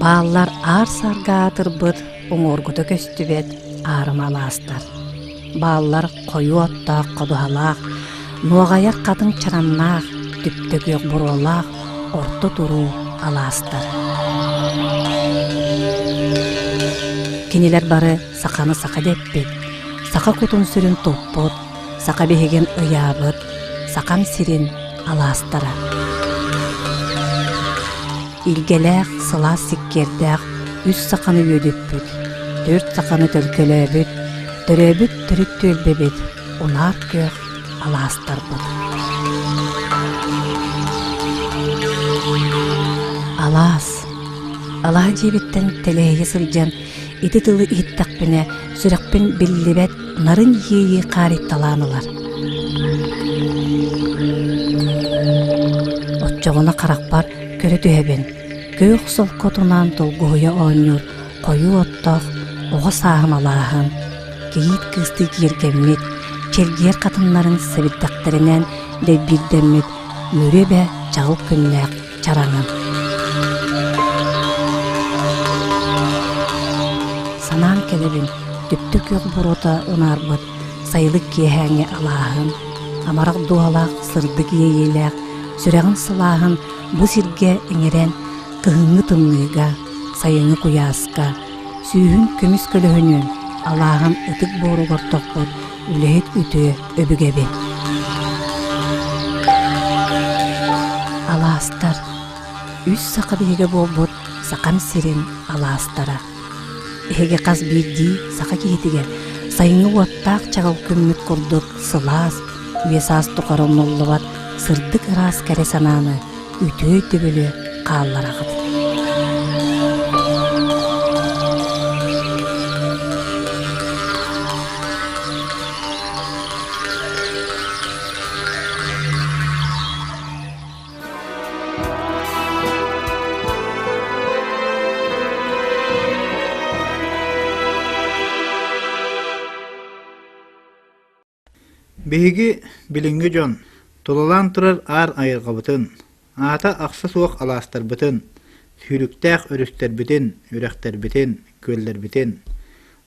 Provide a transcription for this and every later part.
Бааллар аар сарга аатырбыт уҥуоргута көстүбэт аарыма алаастар Бааллар хойуу оттоох ходуһалаах, нуоҕайар хатыҥ чараннаах, түптөкүөх буруолаах орто туруу алаастар. Кинилэр бары саханы саха дэппит, саха кутун-сүрүн туппут, саха биһигин ыйаабыт, сахам сирин алаастара. Илгэлээх, сылаас сиккиэрдээх үс саханы үөдүппүт, төрүт саханы төлкөлөөбүт, төрөөбүт төрүт түөлбэбит, унаар күөх алаастарбыт. Алаас алаа дьиэбиттэн тэлээһи сылдьан ити тылы иһиттэхпинэ сүрэхпин биллибэт нарын иэйии хаарыйталаан ылар. Оччоҕуна харахпар Көрө түһэбин, күөх солкуотунаан толгуһуйа оонньуур хойуу оттоох оҕо сааһым алааһын, кийиит кыыстыы киэргэммит, чэргиэр хатыннарын сэбирдэхтэринэн дэйбиирдэммит үөрүө эбэ чаҕыл күннээх чараҥым. Санаан кэлэбин, түптэ күөх буруота ынаарбыт Сайылык киэһээҥҥи алааһын, амарах дууһалаах сырдык иэйиилээх сүрэҕин сылааһын бу сиргэ иҥэрэн кыһыҥҥы тымныыга, сайыҥҥы куйааска, сүүһүн көмүс көлөһүнүн алааһын ытык буоругар тохпот үлэһит үтүө өбүгэбин. Алаастар үс саха биһигэ буолбут Сахам сирин алаастара Эһиги хас биирдии саха киһитигэр сайыҥҥы уоттаах чаҕыл күммүт курдук сылаас, үйэ-саас тухары умнуллубат сырдык ыраас кэрэ санааны үтүө өйдөбүлү хааллараҕыт. Биһиги билиҥҥи дьон тулалаан турар аар айылҕабытын, аата ахса суох алаастарбытын, сүүрүктээх өрүстэрбитин, үрэхтэрбитин, күөллэрбитин,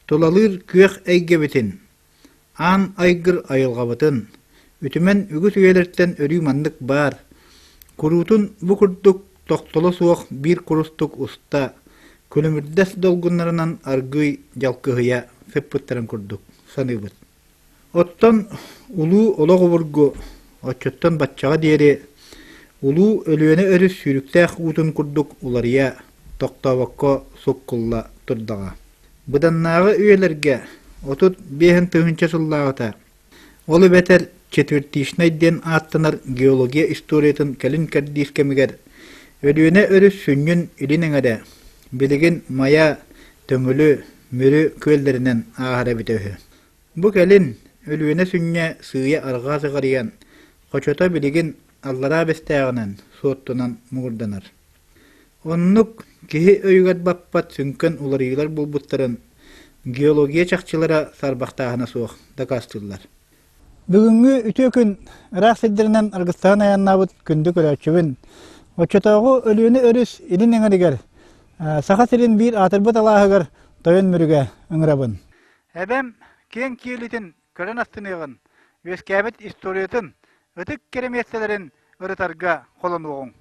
тулалыыр күөх эйгэбитин Аан айгыр айылҕабытын, үтүмэн үгүс үйэлэртэн өрүү маннык баар, куруутун бу курдук тохтоло суох биир курустук уста, күлүмүрдэс долгуннарынан аргыый дьалкыһыйа сыппыттарын курдук саныыбыт. Оттон улуу олох обургу, оччоттон баччаҕа диэри улуу Өлүөнэ өрүс сүүрүктээх уутун курдук уларыйа, тохтообокко суккулла турдаҕа. Быданнааҕы үйэлэргэ отут биэһин тыһыынча сыллааҕыта, ол эбэтэр четвертичнай диэн ааттанар геология историятын кэлин кэрдиис кэмигэр Өлүөнэ өрүс сүнньүн илин эҥэрэ, билигин Майа, Төҥүлү, Мүрү күөллэринэн ааһара эбитэ үһү. Бу кэлин Өлүөнэ сүнньэ сыыйа-арҕаа сыҕарыйан, хочото билигин Аллараа Бэстээҕинэн, Суоттунан муҥурданар. Оннук киһи өйүгэр баппат сүҥкэн уларыйыылар буолбуттарын геология чахчылара саарбахтааһына суох дакаастыыллар. Бүгүҥҥү үтүө күн ыраах сирдэринэн аргыстаан айаннаабыт күндү көрөөччүбүн. Оччотооҕу Өлүөнэ өрүс илин эҥэригэр Саха сирин биир аатырбыт алааһыгар тойон мүрүгэ ыҥырабын. Эбэм киэҥ киэлитин көрөн астыныаҕын, үөскээбит историятын, ытык кэрэмиэссэлэрин ырытарга холонуоҕуҥ.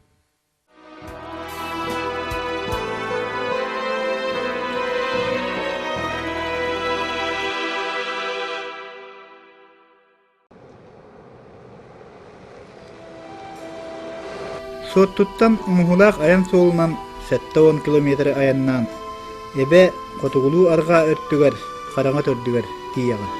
Суоттуттан Муһулаах айан суолунан сэттэ уон километры айаннаан Эбэ хотугулуу арҕаа өттүгэр хараҥа төрдүгэр тиийэҕин.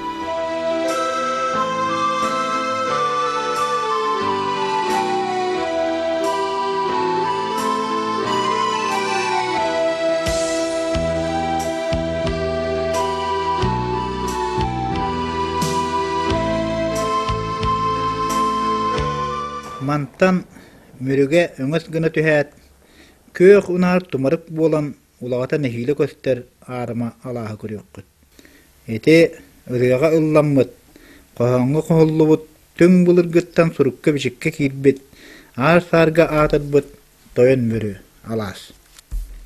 Мантан Мүрүгэ өҥөс гына түһээт, күөх унаар тумарык буолан улаҕата нэһиилэ көстөр аарыма алааһы көрүөххүт. Ити ырыаҕа ылламмыт, хоһооҥҥо хоһуллубут түҥ былыргыттан сурукка-бичиккэ киирбит, аар-саарга аатырбыт тойон мөрү алаас.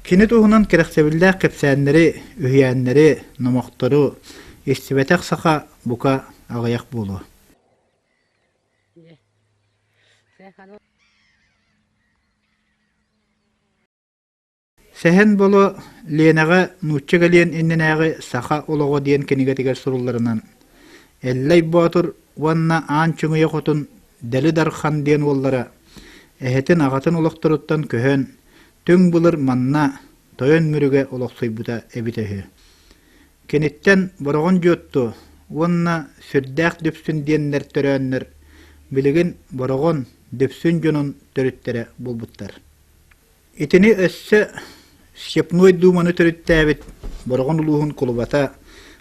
Кини туһунан кэрэхсэбиллээх кэпсээннэри, үһүйээннэри, номохтору истибэтэх саха бука аҕыйах буолуо. Сэһэн Боло Ленэҕэ нуучча кэлиэн иннинээҕи «Саха олоҕо» диэн кинигэтигэр сурулларынан Эллэй Боотур уонна Аан Чуҥуйа Хотун Дели Дархан диэн уоллара эһэтин-аҕатын олохторуттан көһөн, түҥ былыр манна тойон Мүрүгэ олохсуйбута эбитэ үһү. Киниттэн Бороҕон Дьуотту уонна Сүрдээх Дүпсүн диэннэр төрөөннөр билигин Бороҕон Дүпсүн дьонун төрүттэрэ буолбуттар. Итини өссө Степной Дууманы төрүттээбит Бороҕон улууһун кулубата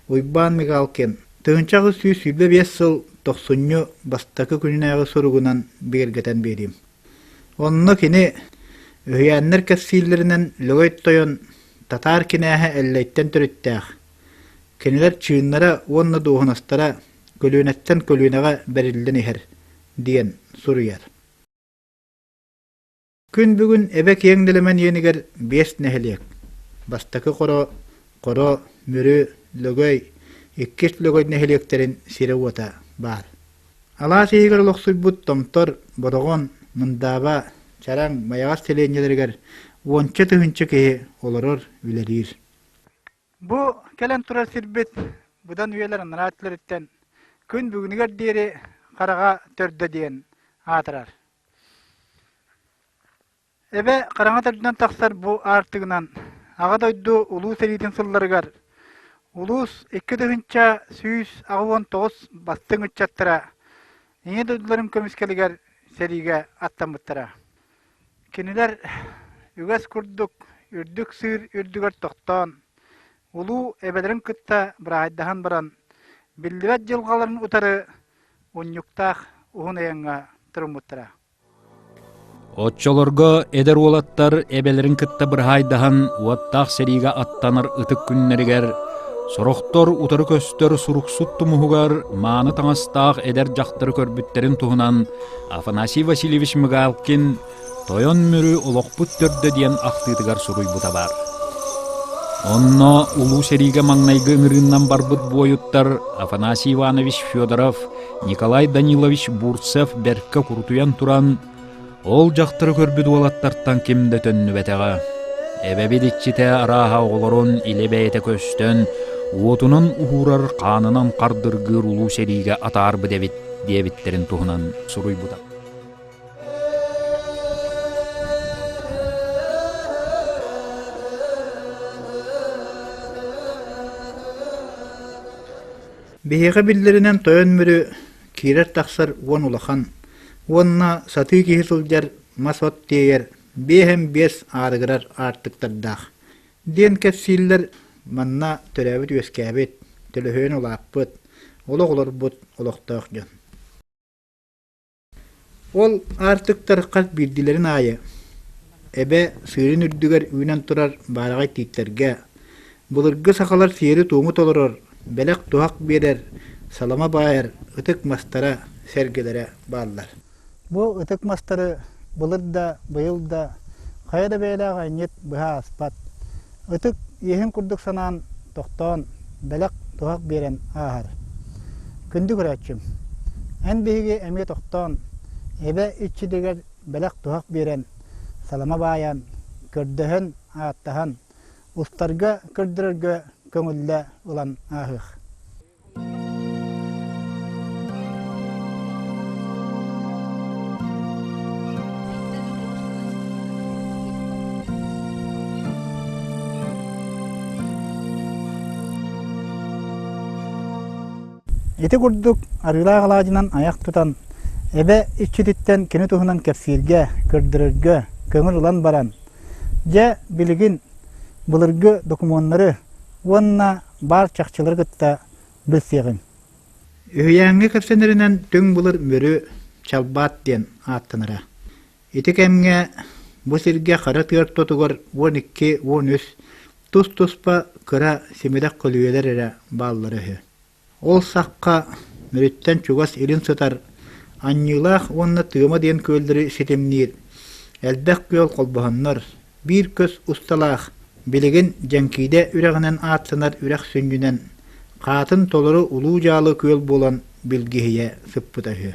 Уйбаан Мигалкин тыһыынча аҕыс сүүс сүүрбэ биэс сыл тохсунньу бастакы күннээҕи суругунан бигэргэтэн биэриим. Онно кини үһүйээннэр кэпсииллэринэн Лөгөй Тойон татаар кинээһэ Эллэйтэн төрүттээх. Кинилэр чыыннара уонна дуоһунастара көлүөнэттэн көлүөнэҕэ бэриллэн иһэр диэн суруйар. Күн бүгүн эбэ киэҥ дэлэмэн иэнигэр биэс нэһилиэк. Бастакы хоро, хоро, Мүрү, Лөгөй, иккис Лөгөй нэһилиэктэрин сирэ-уота баар. Алаас иһигэр олохсуйбут Томтор, Бороҕон, Мындааба, Чараҥ, Майаҕас сэлиэнньэлэригэр уонча тыһыынча киһи олорор, үлэлиир. Бу кэлэн турар сирбит быдан үйэлэр анараа өттүлэриттэн күн бүгүнүгэр диэри хараҕа төрдө диэн аатырар. Эбэ хараҥа төрдүнэн тахсар бу аартыгынан Аҕа дойду Улуу сэриитин сылларыгар улуус икки тыһыынча сүүс аҕыс уон тоҕус бастыҥ ыччаттара Ийэ дойдуларын көмүскэлигэр сэриигэ аттаммыттара. Кинилэр үгэс курдук үрдүк сыыр үрдүгэр тохтоон, улуу эбэлэрин кытта быраайдаһан баран, биллибэт дьылҕаларын утары Унньуктаах уһун айаҥҥа туруммуттара. Оччолорго эдэр уолаттар эбэлэрин кытта быраһаайдаһан уоттаах сэриигэ аттанар ытык күннэригэр сорохтор утары көстөр суруксут тумуһугар мааны таҥастаах эдэр дьахтары көрбүттэрин туһунан Афанасий Васильевич Мигалкин Тойон Мүрү олохпут төрдө диэн ахтыытыгар суруйбута баар. Онно улуу сэриигэ маҥнайгы ыҥырыыннан барбыт буойуттар Афанасий Иванович Федоров, Николай Данилович Бурцев бэркэ курутуйан туран, ол дьахтары көрбүт уолаттартан ким да төннүбэтэҕэ. Эбэбит иччитэ арааһа оҕолорун илэ бэйэтэ көстөн, уотунан уһуурар хаанынан хардыргыыр улуу сэриигэ атаарбыт эбит диэбиттэрин туһунан суруйбута. Биһиэхэ биллэринэн тойон Мүрү киирэр-тахсар уон улахан уонна сатыы киһи сылдьар мас от тиэйэр биэһэм биэс аарыгырар аартыктардаах диэн кэпсииллэр манна төрөөбүт-үөскээбит төлөһүөн улааппыт олох олорбут олохтоох дьон Ол аартыктар хас биирдилэрин аайы эбэ сыырын үрдүгэр үүнэн турар баараҕай тииттэргэ, былыргы сахалар сиэри-туому толорор, бэлэх-туһах биэрэр, салама баайар ытык мастара, сэргэлэрэ бааллар. Бу ытык мастары былыр да, быйыл да хайа да бэйэлээх анньыт быһа ааспат. Ытык иэһин курдук санаан, тохтоон, бэлэх-туһах биэрэн ааһар. Күндү көрөөччүм, эн биһиги эмиэ тохтоон, эбэ иччитигэр бэлэх-туһах биэрэн, салама баайан, көрдөһөн, ааттаһан, устарга көрдөрөргө көҥүллэ ылан ааһыах. Ити курдук арыылаах алаадьынан айах тутан, эбэ иччититтэн кини туһунан кэпсииргэ, көрдөрөргө көҥүл ылан баран, дьэ билигин былыргы докумуоннары уонна баар чахчылары кытта билсиэҕиҥ Үһүйээҥҥэ кэпсэнэринэн Түҥ былыр Мүрү Чалбаат диэн ааттанара. Ити кэмҥэ бу сиргэ хара тыар тотугар уон икки, уон үс тус-туспа кыра симирэх көлүйэлэр эрэ бааллара үһү. Ол сахха өрүттэн чугас илин сытар Аньыылаах уонна Тыама диэн күөллэри ситимниир элбэх күөл холбоһоннор, биир көс усталаах, билигин Дьэҥкиидэ үрэҕинэн ааттанар үрэх сүнньүнэн, хаатын толору улуу дьаалы күөл буолан билгиһийэ сыппыта үһү.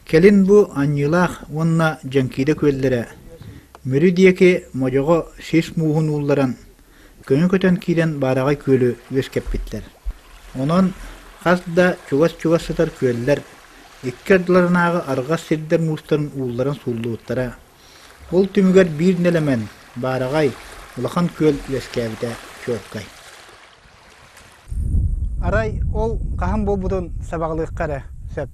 Кэлин бу Аньыылаах уонна Дьэҥкиидэ күөллэрэ Мүрү диэки модьоҕо сис мууһун уулларан, Көнө көтөн киирэн баараҕай күөлү үөскэппиттэр. Онон хас да чугас-чугас сытар күөллэр икки ардыларынааҕы арҕас сирдэр-муустарын уулларан сууллубуттара. Ол түмүгэр биир нэлэмэн, баараҕай, улахан күөл үөскээбитэ чуолкай. Арай ол хаһан буолбутун сабаҕалыахха эрэ сөп.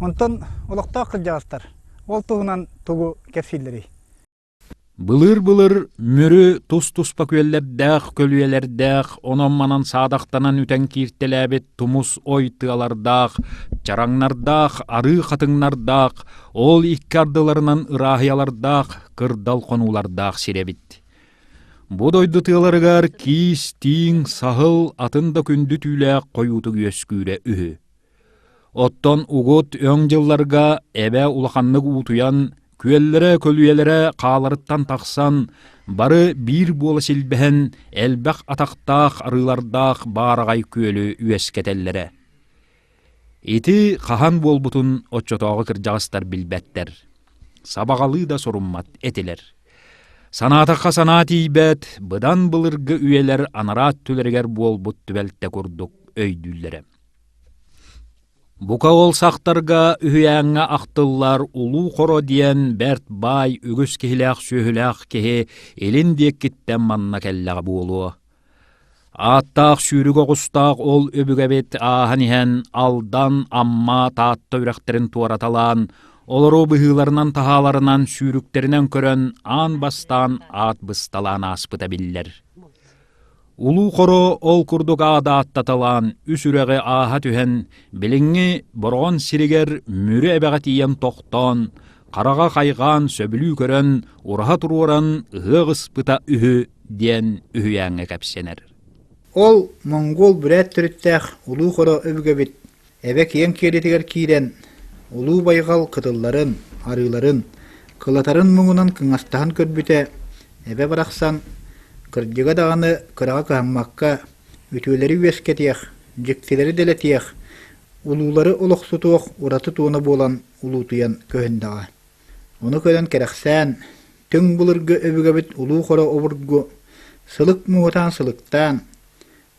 Онтон олохтоох кырдьаҕастар ол туһунан тугу кэпсииллэрий? Былыыр-былыр Мүрү тус-туспа күөллэрдээх, көлүйэлэрдээх, онон-манан саадахтанан үтэн кииртэлээбит тумус ой тыалардаах, чараҥнардаах, арыы хатыҥнардаах, ол икки ардыларынан ырааһыйалардаах, кырдал хонуулардаах сир эбит. Бу дойду тыаларыгар киис, тииҥ, саһыл, атын да күндү түүлээх хойуутук үөскүүрэ үһү. Оттон угут өҥ дьылларга эбэ улаханнык уутуйан, күөллэрэ-көлүйэлэрэ хааларыттан тахсан, бары биир буола силбэһэн, элбэх атахтаах арыылардаах баараҕай күөлү үөскэтэллэрэ. Ити хаһан буолбутун оччотооҕу кырдьаҕастар билбэттэр, сабаҕалыы да суруммат этилэр. Санаатахха санаа тиийбэт, быдан былыргы үйэлэр анараа өттүлэригэр буолбут түбэлтэ курдук өйдүүллэрэ. Бука уолсахтарга үһүйээҥҥэ ахтыллар «Улуу хоро» диэн бэрт баай үгүс киһилээх-сүөһүлээх киһи илин диэккиттэн манна кэллэҕэ буолуо. Ааттаах сүүрүк оҕустаах ол өбүгэбит ааһан иһэн Алдан, Амма, Таатта үрэхтэрин туораталаан, олору быһыыларынан таһааларынан сүүрүктэринэн көрөн аан бастаан аат бысталаан ааспыта биллэр. Улуу Хоро ол курдук адааттаталаан үс үрэҕи ааһа түһэн, билиҥҥи Бороҕон сиригэр Мүрү эбэҕэ тиийэн тохтоон, хараҕа хайҕаан сөбүлүү көрөн, ураһа туруоран ыһыах ыспыта үһү диэн үһүйээҥҥэ кэпсэнэр. Ол монгуол бүрээт төрүттээх Улуу Хоро өбүгэбит Эбэ киэҥ киэлитигэр киирэн, улуу байҕал кытылларын, арыыларын, кылатарын муҥунан кыҥастаһан көрбүтэ, эбэ барахсан, кырдьыга даҕаны кыраҕа кыһаммакка, үтүөлэри үөскэтиэх, дьиктилэри дэлэтиэх, улуулары олохсутуох ураты туона буолан улуутуйан көһүндэҕэ. Ону көрөн кэрэхсээн, түҥ былыргы өбүгэбит улуу хоро обургу, сылык муҥутаан сылыктаан,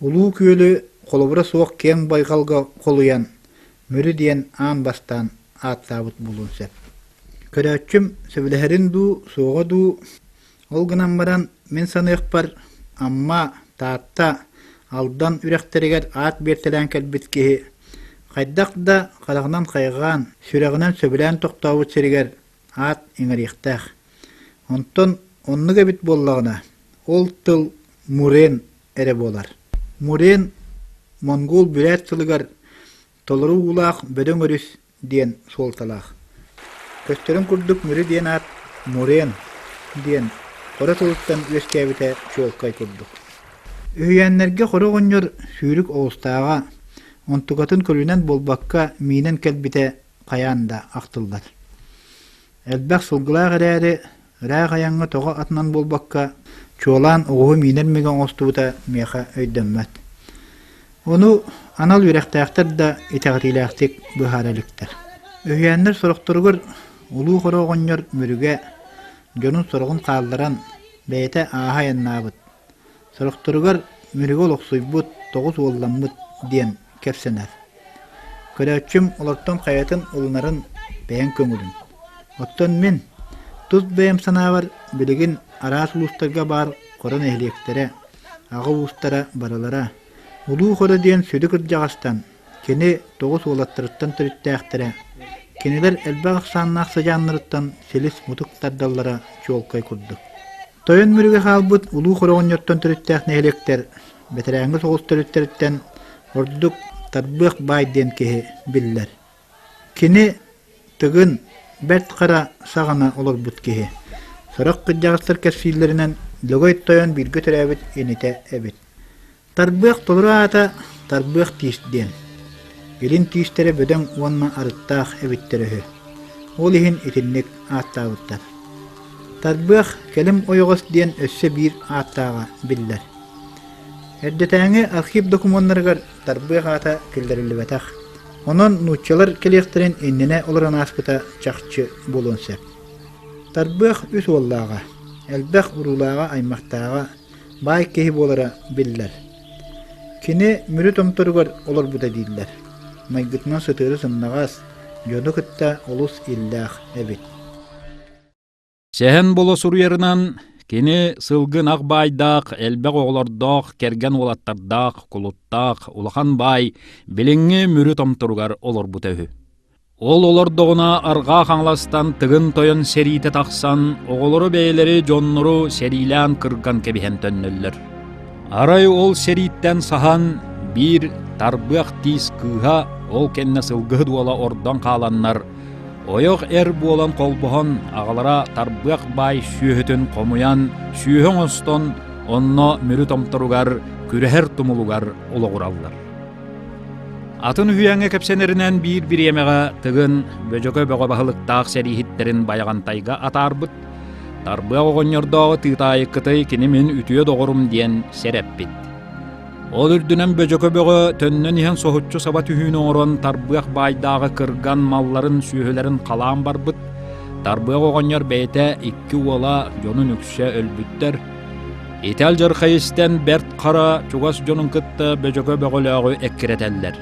Улуу Күөлү холобура суох киэҥ байҕалга холуйан, Мүрү диэн аан бастаан ааттаабыт буолуон сөп. Көрөөччүм сөбүлэһэрин дуу, суоҕа дуу, ол гынан баран мин саныахпар Амма, Таатта, Алдан үрэхтэригэр аат биэртэлээн кэлбит киһи хайдах да хараҕынан хайҕаан, сүрэҕинэн сөбүлээн тохтообут сиригэр аат иҥэриэхтээх. Онтон оннук эбит буоллаҕына, ол тыл Мурен эрэ буолар. Мурен монгуол бүрээт тылыгар толору уулаах бөдөҥ өрүс диэн суолталаах. Көстөрүн курдук Мүрү диэн аат Мурен диэн хоро тылыттан үөскээбитэ чуолкай курдук. Үһүйээннэргэ хоро оҕонньор сүүрүк оҕустааҕа, онтукатын көрүнэн буолбакка, миинэн кэлбитэ хайаан да ахтыллар. Элбэх сылгылаах эрээри, ыраах айаҥҥа тоҕо атынан буолбакка, чуолаан оҕуһу миинэр мигэ оҥостубута миэхэ өйдөммөт. Ону анал үөрэхтээхтэр да итэҕэтиилээхтик быһаара иликтэр. Үһүйээннэр сорохторугар улуу хоро оҕонньор Мүрүгэ дьонун сороҕун хаалларан, бэйэтэ ааһа айаннаабыт, Сорохторугар Мүрүгэ олохсуйбут тоҕус уолламмыт диэн кэпсэнэр. Көрөөччүм олортон хайатын ылынарын бэйэҥ көҥүлүн. Оттон мин тус бэйэм санаабар билигин араас улуустарга баар хоро нэһилиэктэрэ, аҕа уустара барылара улуу хоро диэн сүдү кырдьаҕастан Кини тоҕус уолаттарыттан төрүттээхтэрэ, кинилэр элбэх ахсааннаах сыдьааннарыттан силис-мутук тардаллара чуолкай курдук. Тойон Мүрүгэ хаалбыт улуу хороҕонньоттон төрүттээх нэһилиэктэр бэтэрээҥҥи соҕус төрүттэриттэн ордук Тарбыах баай диэн киһи биллэр. Кини тыгын, бэрт хара саҕана олорбут киһи. Сорох кырдьаҕастар кэпсииллэринэн, Дыгый тойон бииргэ төрөөбүт инитэ эбит. Тарбыах толору аата тарбыах тиис диэн. Илин тиистэрэ бөдөҥ уонна арыттаах эбиттэрэ үһү. Ол иһин итинник ааттаабыттар. Тарбыах кэлим ойоҕос диэн өссө биир ааттааҕа биллэр. Эрдэтээҥи архив докумуоннарыгар тарбыах аата киллэриллибэтэх. Онон нууччалар кэлиэхтэрин иннинэ олорон ааспыта чахчы буолуон сөп. Тарбыах үс уоллааҕа, элбэх уруулааҕа-аймахтааҕа баай киһи буолара биллэр. Кини Мүрү Томторугар олорбута дииллэр. Майгытынан сытыары сымнаҕас, дьону кытта олус иллээх эбит. Сэһэн Боло суруйарынан кини сылгын ах баайдаах, элбэх оҕолордоох, кэргэн уолаттардаах, кулуттаах улахан баай билиҥҥи Мүрү Томторугар олорбута үһү. Ол олордоҕуна арҕаа хаҥаластан тыгын тойон сэриитэ тахсан оҕолору бэйэлэри дьоннору сэриилээн кырган кэбиһэн төннөллөр. Арай ол сэрииттэн саһан биир тарбыах тиис кыыһа ол кэннэ сылгыһыт уола ордон хааланнар ойох эр буолан холбоһон аҕалара тарбыах баай сүөһүтүн хомуйан сүөһү оҥостон онно мүрү томторугар күрэһэр тумулугар олоҕураллар. Атын үһүйээҥҥэ кэпсэнэринэн биир бириэмэҕэ Тыгын Бөдьөкө бөҕө баһылыктаах сэрииһиттэрин байаҕантайга атаарбыт, Тарбыах оҕонньордооҕу тыытаайы кытай кини мин үтүө доҕорум диэн сэрэппит. Ол үрдүнэн Бөдьөкө бөҕө төннөн иһэн соһуччу саба түһүүнү оҥорон Тарбыах баайдааҕы кырган малларын сүөһүлэрин халаан барбыт, Тарбыах оҕонньор бэйэтэ икки уола дьонун үксэ өлбүттэр, Итал дьархай истэн бэрт хара чугас дьонун кытта бөчөкө бөҕөлөөҕү эккирэтэллэр.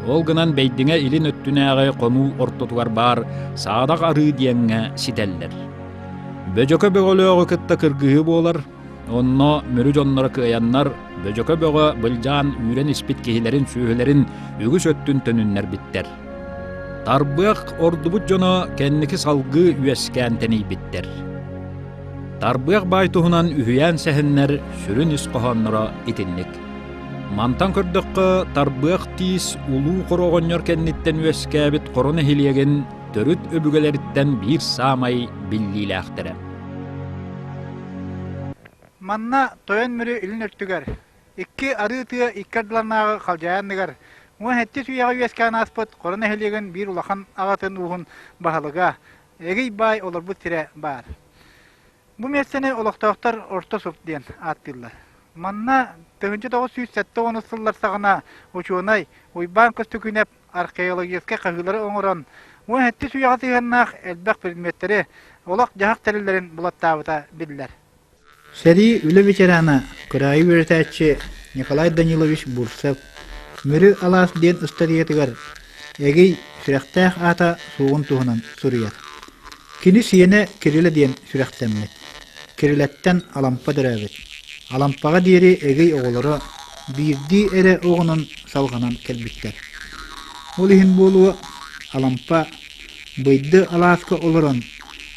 Ол гынан бэйдиҥэ илин өттүнээҕи хонуу ортотугар баар саадах арыы диэҥҥэ ситэллэр. Бөчөкө бөҕөлөөҕү кытта кыргыһыы буолар, онно мүрү дьонноро кыайаннар бөчөкө бөҕө былдьаан үүрэн испит киһилэрин сүөһүлэрин үгүс өттүн төнүннэрбиттэр. Тарбыах ордубут дьоно кэнники салгыы үөскээн тэнийбиттэр. Тарбыах баай туһунан үһүйээн сэһэннэр сүрүн ис хоһоонноро итинник. Мантан көрдөххө, Тарбыах тиис улуу хороҕонньор кэнниттэн үөскээбит хоро нэһилиэгин төрүт өбүгэлэриттэн биир саамай биллиилээхтэрэ. Манна тойон мүрү илин өртүгэр, икки арыы тыа икки ардыларынааҕы халдьайанныгар уон сэттис үйэҕэ үөскээн ааспыт Хоро нэһилиэгин биир улахан аҕатын ууһун баһылыга Эгий баай олорбут сирэ баар. Бу миэстэни олохтоохтор орто суп диэн ааттыыллар. Манна тыһыынча тоҕус сүүс сэттэ уон сыллар саҕана учуонай Уйбаан Көстөкүүнэп археологическай хаһыылары оҥорон, уон сэттис үйэҕэ сыһыаннаах элбэх предметтэри, олох-дьаһах тэриллэрин булаттаабыта биллэр. Сэрии үлэ ветерана, кыраайы үөрэтээччи Николай Данилович Бурцев Мүрү алаас диэн ыстатыйатыгар Эгий сүрэхтээх аата суоҕун туһунан суруйар. Кини сиэнэ Кирилэ диэн сүрэхтэммит. Кирилэттэн Алампа төрөөбүт. Алампаҕа диэри Эгий оҕолоро биирдии эрэ оҕонон салҕанан кэлбиттэр. Ол иһин буолуо Алампа быйды алааска олорон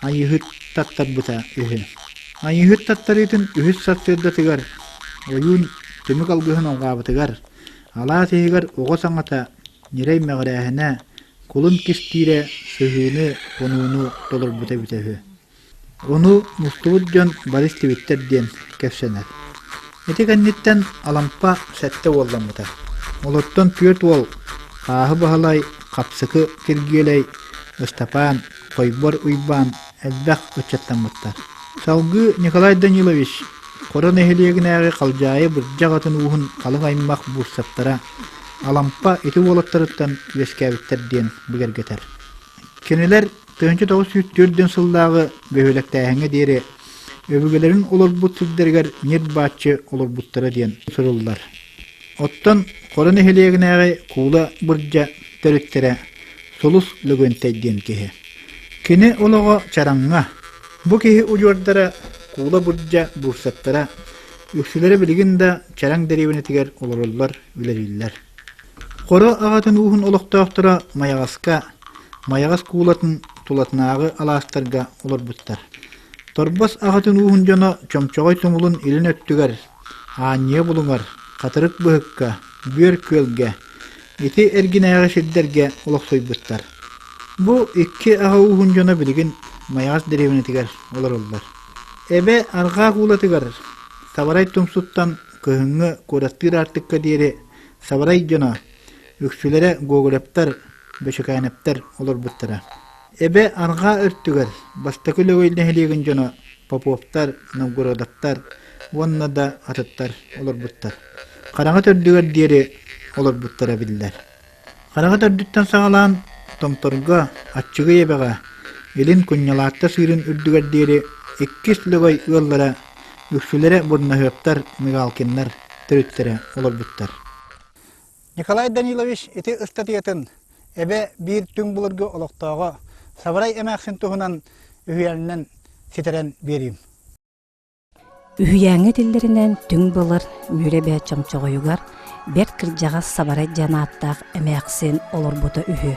Айыыһыт таттарбыта үһү. Айыыһыт таттарыытын үһүс сарсыардатыгар ойуун түмүк алгыһын алҕаабытыгар, алаас иһигэр оҕо саҥата ньирэй мэҕирээһинэ, кулун кистиирэ сыһыыны, хонууну толорбута эбитэ үһү. Ону мустубут дьон бары истибиттэр диэн кэпсэнэр. Ити кэнниттэн Алампа сэттэ уолламмыта. Олортон түөрт уол Хааһы Баһылай, Хапсыкы Киргиэлэй, Ыстапаан Сойбор Уйбаан элбэх ыччаттаммыттар. Салгыы Николай Данилович Хоро нэһилиэгинээҕи Халдьаайы Бырдьах атын ууһун халыҥ аймах буустаптара Алампа ити уолаттарыттан үөскээбиттэр диэн бигэргэтэр. Кинилэр тыһыынча тоҕус сүүс түөртүөн сыллааҕы бөһүөлэктээһиҥҥэ диэри өбүгэлэрин олорбут сирдэригэр ньир-бааччы олорбуттара диэн суруллар. Оттон Хоро нэһилиэгинээҕи Куула Бырдьа төрүттэрэ Сулус Лөгөнтэй диэн киһи. Кини олоҕо чараҥҥа. Бу киһи удьуордара Куула Бырдьа буурсаттара үксүлэрэ билигин да Чараҥ дэриэбинэтигэр олороллор, үлэлииллэр. Хоро аҕатын ууһун олохтоохторо Майаҕаска, Майаҕас Куулатын тулатынааҕы алаастарга олорбуттар. Торбос аҕатын ууһун дьоно чомчоҕой туҥулун илин өттүгэр Аанньыа булуҥар, Хатырык быһыкка, Бүөр күөлгэ, ити эргинээҕи сирдэргэ олохсуйбуттар. Бу икки аҕа ууһун дьоно билигин Майаҕас дэриэбинэтигэр олороллор. Эбэ арҕаа уулатыгар Сабарай Тумсуттан кыһыҥҥы куораттыыр аартыкка диэри Сабарай дьоно, үксүлэрэ Гоголевтар, Бөчөкөөнөптөр олорбуттара. Эбэ арҕаа өртүгэр бастакы Лөгөй нэһилиэгин дьоно Поповтар, Новгородовтар уонна да атыттар олорбуттар. Хараҥа төрдүгэр диэри олорбуттара биллэр. Хараҥа төрдүттэн саҕалаан Томторго Аччыгый эбэҕэ илин Кунньалаатта сыырын үрдүгэр диэри иккис Лөгөй ыаллара үксүлэрэ Бурнаһыаптар, Мигалкиннар төрүттэрэ олорбуттар. Николай Данилович ити ыстатыйатын эбэ биир түҥ былыргы олохтооҕо Саврай эмээхсин туһунан үһүйээнинэн ситэрэн биэриим. Үһүйээҥҥэ этиллэринэн түҥ былыр Мүрэбэ чомчоҕойугар бэрт кырдьаҕас Сабарай диэн ааттаах эмээхсин олорбута үһү.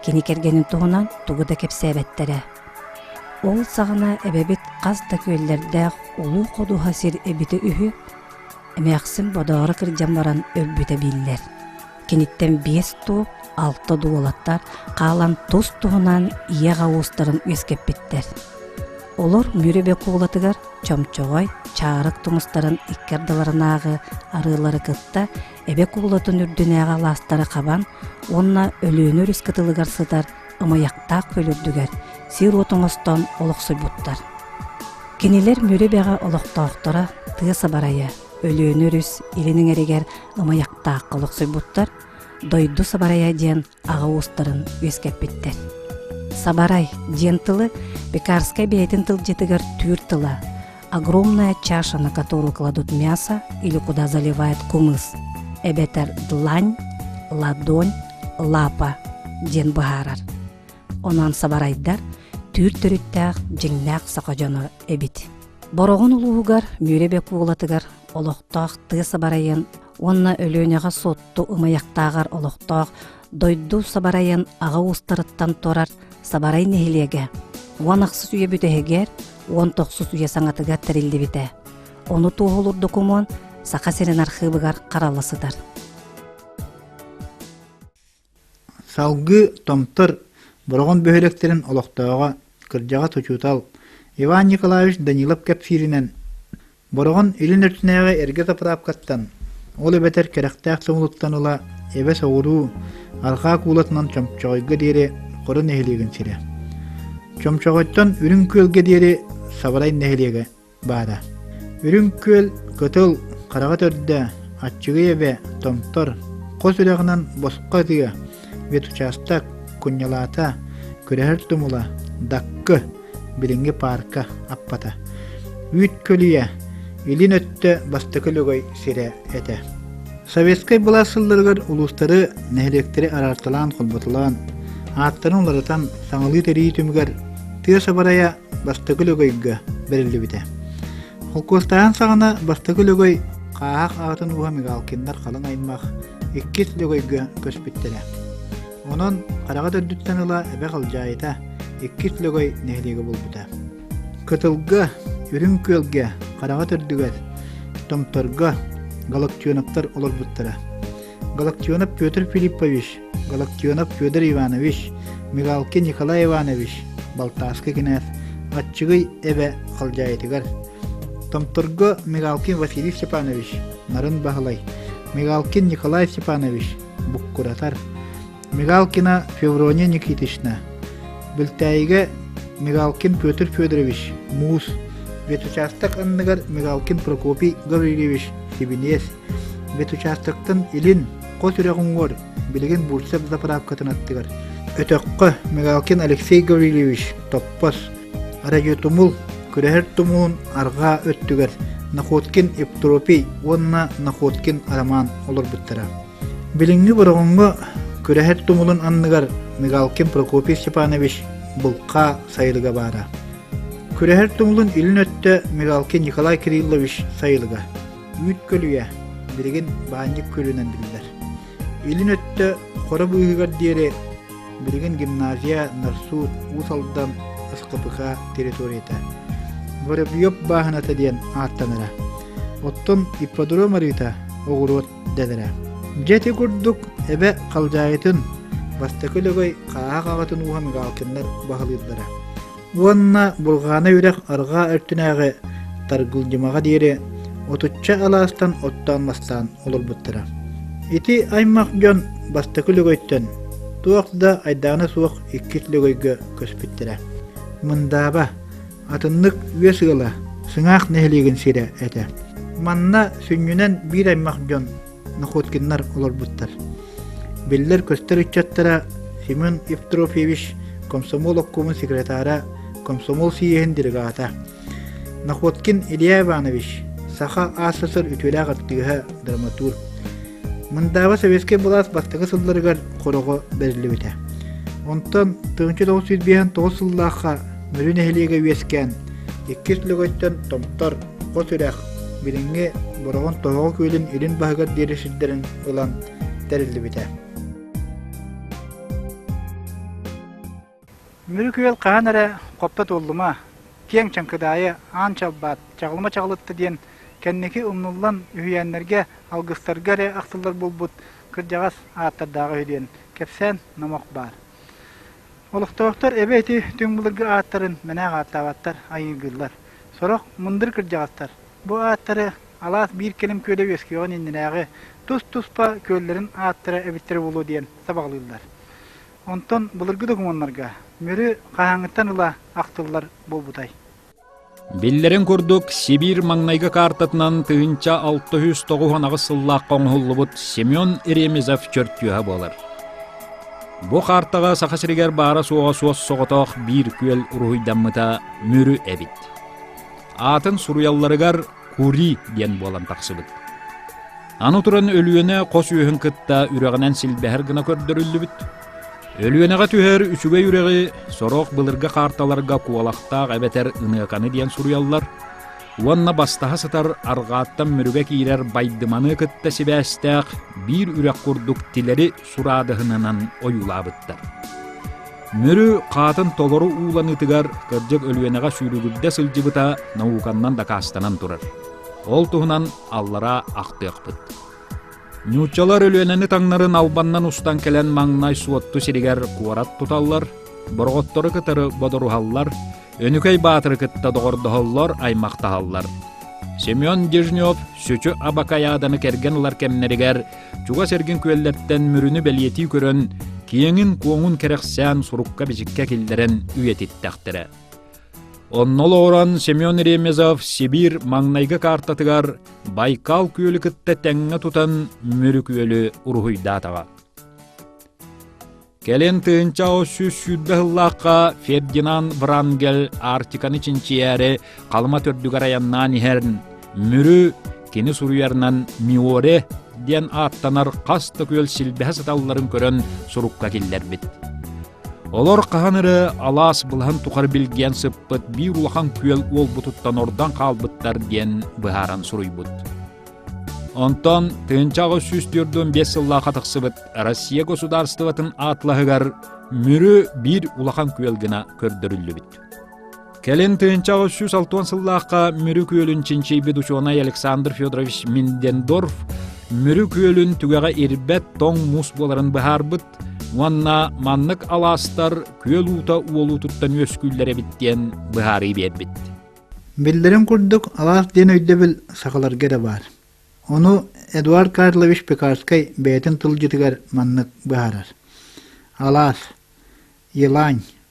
Кини кэргэнин туһунан тугу да кэпсээбэттэрэ. Ол саҕана эбэбит хас да күөллэрдээх улуу ходуһа сир эбитэ үһү, Эмээхсин бодооро кырдьан баран өлбүтэ биллэр. Киниттэн биэс туох, алта дуолаттар хаалан тус-туһунан ийэ уустарын үөскэппиттэр. Олор Мүрүбэ куулатыгар чомчоҕой, чаарык тумустарын икки ардыларынааҕы арыылары кытта эбэ куулатын үрдүнээҕи алаастары хабан уонна Өлүөнэ өрүс кытылыгар сытар ымайахтаах көл үрдүгэр сир уот оҥостон олохсуйбуттар. Кинилэр Мүрү Бэҕэ олохтоохторо тыа сабарайа, Өлүөнэ өрүс илин иҥэригэр ымайахтаахха олохсуйбуттар, дойду сабарайа диэн аҕа уустарын үөскэппиттэр. Сабарай диэн тылы Пекарскай бэйэтин тылдьытыгар түүр тыла, огромная чаша, на которую кладут мясо или куда заливают кумыс, эбэтэр длань, ладонь, лапа диэн быһаарар. Онон сабарайдар түүр төрүттээх дьиҥнээх саха дьоно эбит. Бороҕон улууһугар Мүрэбэк уулатыгар олохтоох тыа сабарайын уонна Өлүөнэҕэ Суотту ымайахтааҕар олохтоох дойду сабарайын аҕа уустарыттан турар сабарай нэһилиэгэ уон ахсыс үйэ бүтэһигэр уон тохсус үйэ саҥатыгар тэриллибитэ ону туоһулуур докумуон саха сирин архыыбыгар харала сытар салгыы томтор бороҕон бөһүөлэктэрин олохтооҕо кырдьаҕас учуутал иван николаевич данилов кэпсииринэн Бороҕон илин өртүнээҕи эргэ тапыраапкаттан, ол эбэтэр кэрэхтээх сомолуттан ыла эбэ соҕуруу арҕаа куулатынан Чомчоҕойго диэри Хоро нэһилиэгин сирэ. Чомчоҕойтон Үрүҥ Күөлгэ диэри Сабарай нэһилиэгэ баара. Үрүҥ Күөл кытыл, хараҕа төрдө, аччыгый эбэ, томтор, хос үрэҕинэн босхо ытыа, ветучаастак, кунньалаата, күрэһэр тумула, даккы, билиҥҥи паарка аппата үүт көлүйэ илин өттө бастакы лөгөй сирэ этэ советскай былаас сылларыгар улуустары нэһилиэктэри араарталаан холботулаан ааттарын уларытан саҥалыы тэрии түмүгэр тыас абарайа бастакы лөгөйгө бэриллибитэ холкуостааһын саҕана бастакы лөгөй хааһах аатын ууһа мигалкиннар халыҥ аймах иккис лөгөйгө көспүттэрэ Онон хараҕа төрдүттэн ыла эбэ халдьаайыта иккис Лөгөй нэһилиэгэ булбута. Кытылга, Үрүҥ Күөлгэ, хараҕа төрдүгэр, Томторго Галактионовтар олорбуттара. Галактионов Петр Филиппович, Галактионов Федор Иванович, Мигалкин Николай Иванович, Балтааскы кенәз, Аччыгый эбэ халдьаайытыгар, Томторго Мигалкин Василий Степанович, Нарын Баһылай, Мигалкин Николай Степанович, буккуратар. Мигалкина Феврония Никитична, Бөлтәйиге Мигалкин Петр Федорович Муус, ветучасток анныгар Мигалкин Прокопий Гаврильевич Хибинес, ветучастоктын илин хос үрөҕүнгор билигин Бурцев заправкатын аттыгар. Өтөххө Мигалкин Алексей Гаврильевич Топпос, Радиотумул күрэһэр тумуун арҕаа өттүгэр Находкин Ептеропий уонна Находкин Роман олорбуттара. Билиҥҥи Бороҕоҥҥо күрэһэр тумулун анныгар Мигалкин Прокопий Степанович булка сайылыга баара. Күрэһэр тумулун илин өттө Мигалкин Николай Кириллович сайылыга. Үүт көлүйэ, билигин баанньык күлүнэн биллэр. Илин өттө хоро быыһыгар диэри билигин гимназия Нарсу Уус Алдан СКПК территорията Воробьев бааһыната диэн ааттанара. Оттон ипподром арыыта оҕуруот дэлэрэ. Дьэ ити курдук эбэ халдьаайытын бастакы лөгөй хааһах аҕатын ууһан Галкиннар баһылыыллара. уонна Булгаана үрэх арҕаа өртүнээҕи Таргылдьымаҕа диэри отучча алаастан оттоон-мастаан олорбуттара. Ити аймах дьон бастакы лөгөйтөн туох да айдаана суох иккис лөгөйгө көспүттэрэ. Мындааба, атыннык үөс ыала, сыҥаах нэһилиэгин сирэ этэ. Манна сүнньүнэн биир аймах дьон Находкиннар олорбуттар. Биллэр-көстөр ыччаттара Семен Евтрофьевич комсомол оккуумун секретара, комсомол сийиэһин делегата. Находкин Илья Иванович, саха СССР үтүөлээх артыыһа, драматург. Мындааба советскай былаас бастакы сылларыгар хороҕо бэриллибитэ. Онтон 1959 сыллаахха Мүрү нэһилиэгэ үөскээн, иккис лөгөттөн Томтор хо тирэх, билиҥҥи Бороҕон Тоһоҕо күөлүн илин баһыгар диэри сирдэрин ылан тэриллибитэ. Мүрү күөл хаһан эрэ хопто туоллума, киэҥ чаҥкыдаайы аан чалбаат, чаҕылма чаҕылытта диэн кэнники умнуллан үһүйээннэргэ, алгыстарга эрэ ахтыллар буолбут кырдьаҕас ааттардааҕы үһү диэн кэпсээн номох баар. Олохтоохтор эбэ ити түҥ былыргы ааттарын мэнээх ааттаабаттар, айыыргыыллар. Сорох мындыр кырдьаҕастар бу ааттары алаас биир кэлим күөдэ үөскүөҕүн иннинээҕи тус-туспа күөллэрин ааттара эбиттэрэ буолуо диэн сабаҕалыыллар. Онтон былыргы докумуоннарга Мүрү хаһааҥҥыттан ыла ахтыллар буолбутай? Биллэрин курдук, Сибиир маҥнайгы каартатынан тыһыынча алта үс тоҕус аҕыс сыллаахха оҥоһуллубут Семен Ремезов чөртүөһэ буолар. Бу каартаҕа Саха сиригэр баара-суоҕа суос соҕотох биир күөл уруһуйдаммыта Мүрү эбит. Аатын суруйалларыгар Кури диэн буолан тахсыбыт. Аны туран Өлүөнэ хос үөһүн кытта үрэҕинэн силбэһэр гына көрдөрүллүбүт. Өлүөнэҕэ түһэр үчүгэй үрэҕи сорох былыргы каарталарга куолахтаах эбэтэр ыныаканы диэн суруйаллар уонна бастаһа сытар арҕааттан мүрүгэ киирэр байдыманы кытта сибээстээх биир үрэх курдук тилэри сураадыһынынан ойуулаабыттар. Мүрү хаатын толору ууланыытыгар кырдьык Өлүөнэҕэ сүүрүгүрдэ сылдьыбыта науканнан дакаастанан турар. Ол туһунан аллара ахтыахпыт. Нууччалар Өлүөнэни таҥнарын албаннан устан кэлэн маҥнай Суотту сиригэр куорат туталлар, Бороҕоттору кытары бодоруһаллар, Өнүкэй Баатыры кытта доҕордоһоллор, аймахтаһаллар. Семен Дежнев сүчү Абакаяданы кэргэн ылар кэмнэригэр чугас эргин күөллэртэн мүрүнү бэлиэтии көрөн, киэҥин-куоҥун кэрэхсээн сурукка-бичиккэ киллэрэн үйэтиттэхтэрэ. Онно олоҕуран Семен Ремезов Сибиир маҥнайгы каартатыгар Байкал күөлү кытта тэҥҥэ тутан Мүрүк үөлү уруһуйдаатаҕа. Кэлин тыынча сүүс сүүрбэ сыллаахха Фердинанд Врангель Арктиканы чинчийээри Халыма төрдүгэр айаннаан иһэрин Мүрү кини суруйарынан Миоре диэн ааттанар хас да күөл силбэһэ сыталларын көрөн сурукка киллэрбит. Олор хаһан эрэ алаас былаһын тухары билгиэн сыппыт биир улахан күөл уолбутуттан ордон хаалбыттар диэн быһааран суруйбут. Онтон тыынча аҕыс сүүс төрдүн биэс сыллааха тахсыбыт Россия государствотын атлаһыгар мүрү биир улахан күөл гына көрдөрүллүбүт. Кэлин тыынча аҕыс сүүс алтуон сыллаахха Мүрү күөлүн чинчийбит учуонай Александр Федорович Миндендорф Мүрү күөлүн түгэҕэ ирбэт тоҥ муус буоларын быһаарбыт уонна маннык алаастар күөл уута уолуутуттан үөскүүллэр эбит диэн быһаарыы биэрбит. Биллэрин курдук, алаас диэн өйдөбүл сахаларга да баар. Ону Эдуард Карлович Пекарскай бэйэтин тылдьытыгар маннык быһаарар. Алаас, Елань,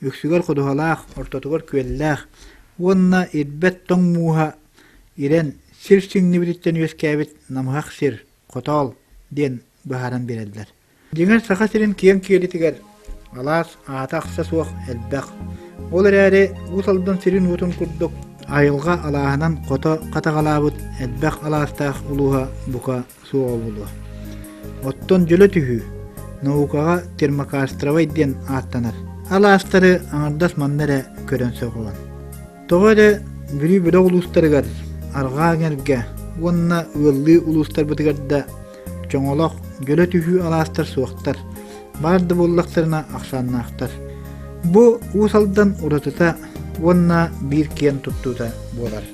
үксүгэр ходуһалаах, ортотугар күөллээх уонна ирбэт тоҥ мууһа ирэн сир сиҥнибититтэн үөскээбит намыһах сир, хотоол диэн быһааран биэрэллэр. Дьиҥэр Саха сирин киэҥ киэлитигэр алаас аата-ахса суох элбэх. Ол эрээри Уус Алдан сирин-уотун курдук айылҕа алааһынан хото хатаҕалаабыт элбэх алаастаах улууһа бука суоҕа буолуо. Оттон дьөлө түһүү наукаҕа термокастровай диэн ааттанар. Алаастары аҥардас манна эрэ көрөн сөҕүҕүн. Тоҕо эрэ Бүлүү бөлөх улуустарыгар арҕаа эҥэргэ уонна ыаллыы улуустарбытыгар да чоҥолох дьөлө түһүү алаастар суохтар. Баар да буоллахтарына ахсааннаахтар. Бу Уус Алдан уратыта уонна биир киэн туттуута буолар.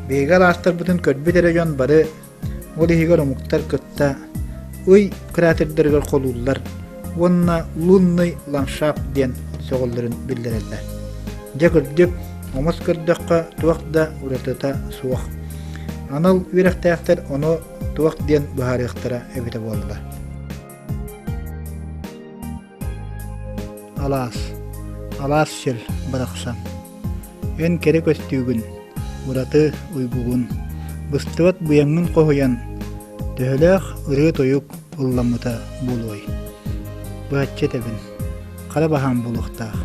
Биһиги алаастарбытын көрбүт эрэ дьон бары Ол иһигэр омуктар кытта ый кратердэригэр холууллар уонна лунный ландшафт диэн сөҕөллөрүн биллэрэллэр. Дьэ кырдьык, омос көрдөххө туох да уратыта суох. Анал үөрэхтээхтэр ону туох диэн быһаарыахтара эбитэ буоллулар. Алаас, алаас сир барахсан, эн кэрэ көстүүгүн, ураты уйгугун, быстыбат быйаҥҥын хоһуйан, төһөлөөх ырыа-тойук ылламмыта буолуой? Быһаччы этэбин, хара баһаам буолуохтаах.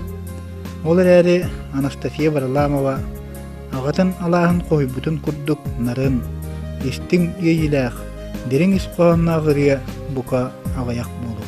Ол эрээри Анастасия Варламова аҕатын алааһын хоһуйбутун курдук нарын, истиҥ иэйиилээх, дириҥ ис хоһоонноох ырыа бука аҕыйах буолуо.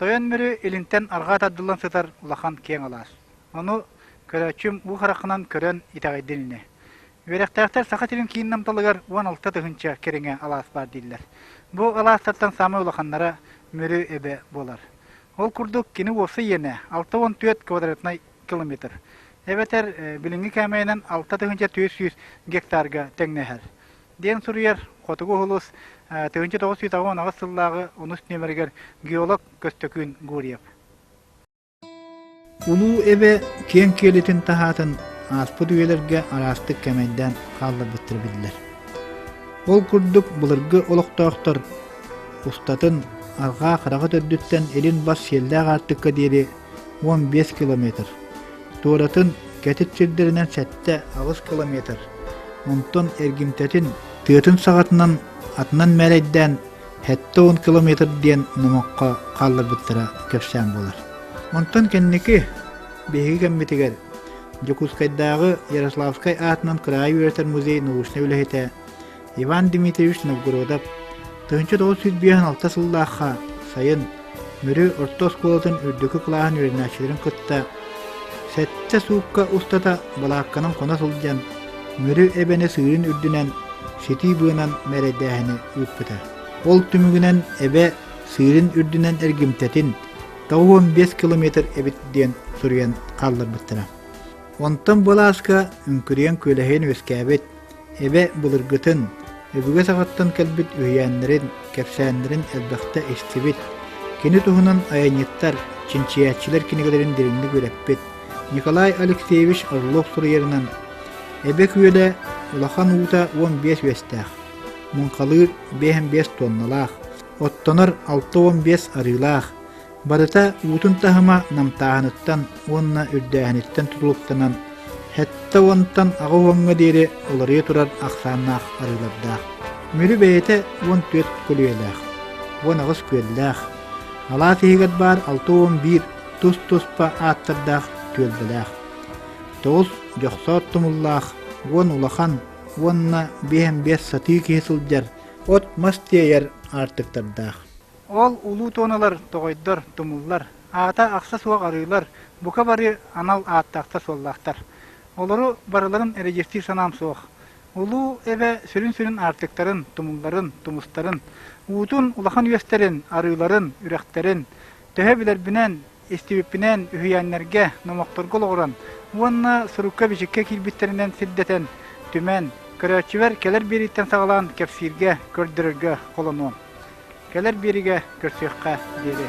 Тойон Мүрү илинтэн арҕаа тардыллан сытар улахан киэҥ алаас. Ону көрөөччүм уу харахынан көрөн итэҕэйдилинэ. Үөрэхтээхтэр Саха сирин киин намталыгар уон алта тыһыынча кэриҥэ алаас баар дииллэр. Бу алаастартан саамай улаханнара Мүрү эбэ буолар. Ол курдук, кини уопсай иэнэ алта уон түөрт квадратнай километр, эбэтэр билиҥҥи кээмэйинэн алта тыһыынча түөрт сүүс гектарга тэҥнэһэр, диэн суруйар Хотугу уһулус тыһыынча тоҕус сүүс аҕыс уон сыллааҕы унус нүөмэригэр геолог Көстөкүүн Гурьев. Улуу эбэ киэҥ киэлитин таһаатын ааспыт үйэлэргэ араастык кэмэйдээн хаалларбыттара биллэр. Ол курдук былыргы олохтоохтор устатын арҕаа хараҕа төрдүттэн илин бас сиэллээх аартыкка диэри уон биэс километр, туоратын кэтит сирдэринэн сэттэ аҕыс километр, онтон эргимтэтин тыатын саҕатынан атынан мээрэйдээн Сэттэ уон километр диэн номоххо хаалларбыттара кэпсээн буолар. Онтон кэнники биһиги кэммитигэр Дьокуускайдааҕы Ярославскай аатынан кыраайы үөрэтэр музей научнай үлэһитэ Иван Дмитриевич Новгородов тыһыынча тоҕус сүүс биэс алта сыллаахха сайын Мүрү орто оскуолатын үрдүкү кылааһын үөрэнээччилэрин кытта сэттэ суукка устата балаакканан хоно сылдьан, Мүрү эбэни сыырын үрдүнэн ситии быанан мэрэйдээһини ыыппыта. Ол түмүгүнэн эбэ сыырын үрдүнэн эргимтэтин тоҕус уон биэс километр эбит диэн суруйан хаалларбыттара. Онтон былааска үҥкүрүйэн күөлэһийэн үөскээбит, Эбэ былыргытын, өбүгэ саҕаттан кэлбит үһүйээннэрин, кэпсээннэрин элбэхтэ истибит. Кини туһунан айанньыттар, чинчийээччилэр кинигэлэрин дириҥник үөрэппит Николай Алексеевич Орлов суруйарынан «Эбэ күөлэ улахан уута уон биэс үөстээх, муҥхалыыр биэһэн биэс туонналаах, оттонор алта уон биэс арыылаах, Барыта уутун таһыма намтааһыныттан уонна үрдээһиниттэн тутулуктанан, сэттэ уонтан аҕа уоҥҥа диэри уларыйа турар ахсааннаах арыылардаах. Мүрү бэйэтэ уон түөрт көлүйэлээх, уон аҕыс күөллээх, алаас иһигэр баар алта уон биир тус-туспа ааттардаах түөлбэлээх. Тоҕус дьохсоот тумуллаах, уон улахан уонна биэһэн биэс сатыы киһи сылдьар от-мас тиэйэр аартыктардаах. Ол улуу туоналар тоҕойдор, тумуллар, аата-ахса суох арыылар, бука бары анал ааттаахтар-суоллаахтар. Олору барыларын эридьиэстиир санаам суох. Улуу эбэ сүрүн-сүрүн аартыктарын, тумулларын, тумустарын, уутун улахан үөстэрин, арыыларын, үрэхтэрин, төһө билэрбинэн, Истибиппинэн, үһүйээннэргэ, номохторго олоҕуран уонна сурукка-бичиккэ киирбиттэринэн сирдэтэн, түмэн, көрөөччүбэр кэлэр биэрииттэн саҕалаан кэпсииргэ, көрдөрөргө холонуом. Кэлэр биэриигэ көрсүөххэ диэри.